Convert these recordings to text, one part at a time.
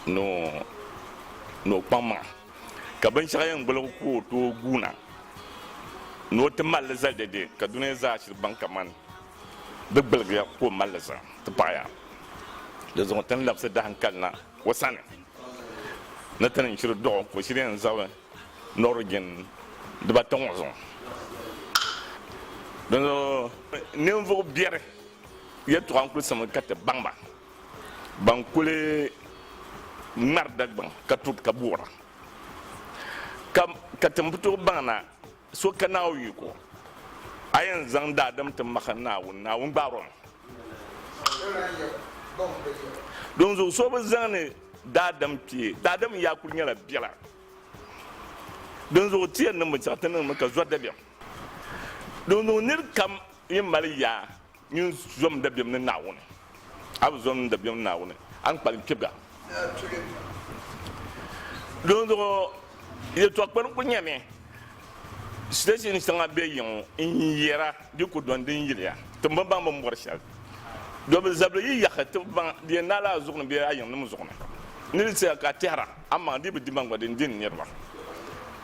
ni o kpaŋ maŋa ka binshɛɣu yɛn gbuli ka o tooi guuna ni o ti malli zali dɛdɛ ka duniya zaa shiri baŋ kamani di gbuligi ya ka o malli zaŋ ti paɣaya di zuɣu ti ni labisi dahinkalina o sani ni ti ni shiri dɔɣu ka o shiri yɛn zabiri Nɔrigin dibata ŋɔ zuɣu. Dinzuɣu ninvuɣ biɛri yɛltɔɣa n-kuli simmi ka ti baŋ ba. Ban kuli ŋmɛri Dagbaŋ ka tuhi ka buɣira ka ka ti ni bi tooi baŋ na. So ka Naawuni ku, a yɛn zaŋ daadam ti mahi Naawuni, Naawuni gbaar o mi. Dinzuɣu so bi zaŋdi daadam kpe. Daadam yaa kuli nyɛla biɛla. Dinzuɣu ti yɛn niŋmi, zaɣ ti niŋmi ka zɔri dabiɛm. Dinzuɣu nir kam yi mali yaa, Nyin zom n dabiɛm ni Naawuni. A bi zom n dabiɛm ni Naawuni, a ni kpalim kpibiga. Dinzuɣu yɛtɔɣ kpɛriŋ ku nyɛmi siteshin shɛŋa be yiŋ n-yɛra di ku dɔni din yiliya ti bi baŋ bini bɔri shɛli. Do bi zabili yi yahi ti baŋ di yɛn naai la a zuɣu ni bee a yiŋnim zuɣu ni. Ni di saya ka a tɛhira amaŋ di bi dimaŋ gba di ni dini niriba.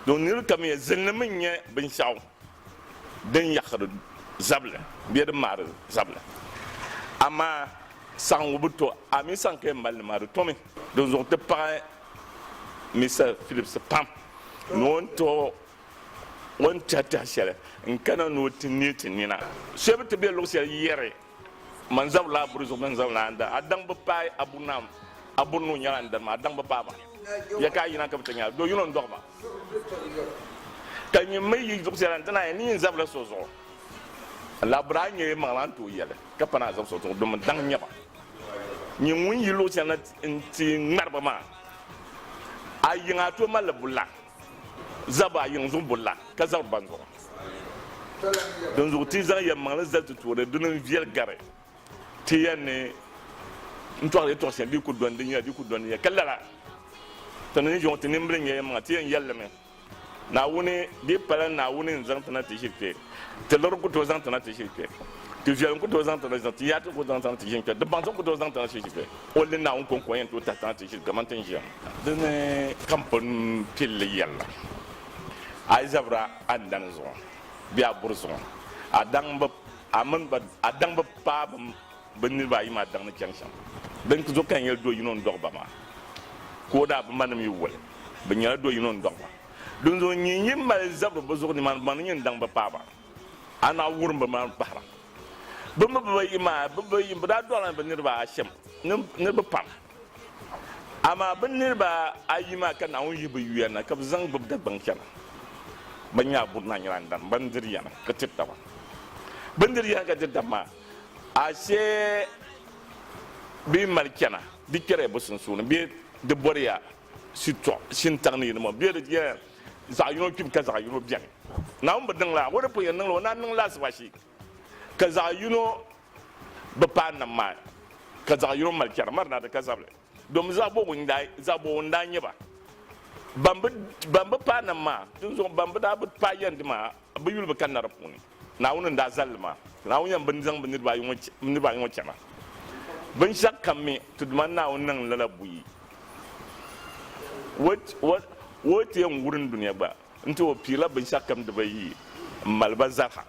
Do nir kamiya zilini mi n-nyɛ binshɛɣu. din yaɣiri zabili bee din maari zabili. Amaa saɣiŋgu bi to, a mi saŋ ka yɛn mali li maa, di tomi. Dinzuɣu ti paɣi Mister Phillips pam ni o ni tooi o ni tɛhi tɛha shɛli n-kana ni o ti neei ti nina. Shɛba ti be luɣ shɛli yɛri Man zab la buri zuɣu bɛn zab la n-da. A daŋ bi paai a buri na a buri nuu nyɛla n-dari ma a daŋ bi paai ba ya ka a yina ka bi ti nya do yino n-dɔɣi ba ka nyin mi yi zuɣu sɛla nti naai ni yin zab la so zuɣu la buri a nyɛ maŋ la n tooi yɛli ka pa ni a zab so zuɣu domin daŋ nyɛ ba nyin ŋun yi luɣu sɛla nti ŋmari ba maa a yiŋa a tooi mali li buri la zab a yiŋ zuɣu buri la ka zabiri ban zuɣu. Dinzuɣu ti zaŋ yɛlimaŋli zali ti tooni, dini n-viɛli gari ti ya ni n-tɔɣiri ya tɔɣisiya bee ku dɔndi ya bee ku dɔndi ya. Ka lala, ti ni yo ti nimbili nya yɛlimaŋa, ti yɛn yɛli li mi, Naawuni, di pala Naawuni n-zaŋ ti na ti ʒiri kpe. Ti luri n-ku tooi zaŋ ti na ti ʒiri kpe. Ti viɛl n-ku tooi zaŋ ti na ti ʒiri kpe. Ti yaati n-ku tooi zaŋ ti na ti ʒiri kpe. Di baŋsim n-ku tooi zaŋ ti na ti ʒiri kpe. O li Naawuni kɔŋko n-yɛn tooi tahi ti na ti ʒiri kaman ti ni ʒiya ŋɔ. Di ni ka m pun pil li yɛlli a yi zabira a ni daŋ zuŋɔ bee a buri zuŋɔ, a daŋ bi, a mini ba, a daŋ bi paai bim bi niriba ayi maa daŋ ni chaŋ shɛm. Din zuɣu ka n yɛli do yino n-dɔɣi ba maa, ka o daa bi ma nim yi woli bɛ nyɛla do yino n-dɔɣi ba. Dinzuɣu n nyin yi mali zabiri bɛ zuɣu nimaani baŋ ni nyin daŋ bi paai ba, a naɣ wurim bɛ maŋ kpahira. Bɛ mi bibayi maa, bɛ bibayi, bɛ daa dɔɣila ni bɛ niriba ashɛm, niriba pam. Amaa bɛ niriba ayi maa ka Naawuni yihi bɛ yuya na ka bɛ zaŋ gbibi Dagbaŋ chana. Bɛ ni nyaa buri na nyɛla n-dan bindiri yana ka tiri taba. Bindiri yana ka tiri taba maa, ashe bɛ yi mali chana, di kpɛriya bɛ sunsuuni bee di bɔriya shitɔɣu shintaŋ ni yi ni bɔŋɔ bee di nyɛla zaɣ yino kpibu ka zaɣ yino beni. Naawuni bi niŋ lala, o ni pun yɛn niŋ li, o ni a niŋ li laasabu ashe. ka zaɣ yino bi paai nam maa ni, ka zaɣ yino mali chɛri Marina di ka zabili, domi zaɣ bɔbigu n-daa nyɛ ba. Bɛn bi paai nam maa, dinzuɣu bɛn bi daa bi paai yɛndi maa, bɛ yuli bi kanna di puuni. Naawuni n-daa zali li maa, ka Naawuni yɛn bi zaŋ bɛ niriba ayi ŋɔ chana. Binshɛɣu kam mi, ti Duuma Naawuni niŋ lala buyi. O yi ti yɛn wurim dunia gba nti o piirila binshɛɣu kam di ba yi m-mali ba zaliha.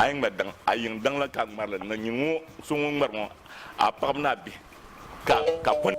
A yi ŋmari daŋ, a yiŋ daŋ la ka a ŋmari li ni nyin ŋɔ so ŋun ŋmari ŋɔ, a paɣiba ni a bihi ka ka kɔni.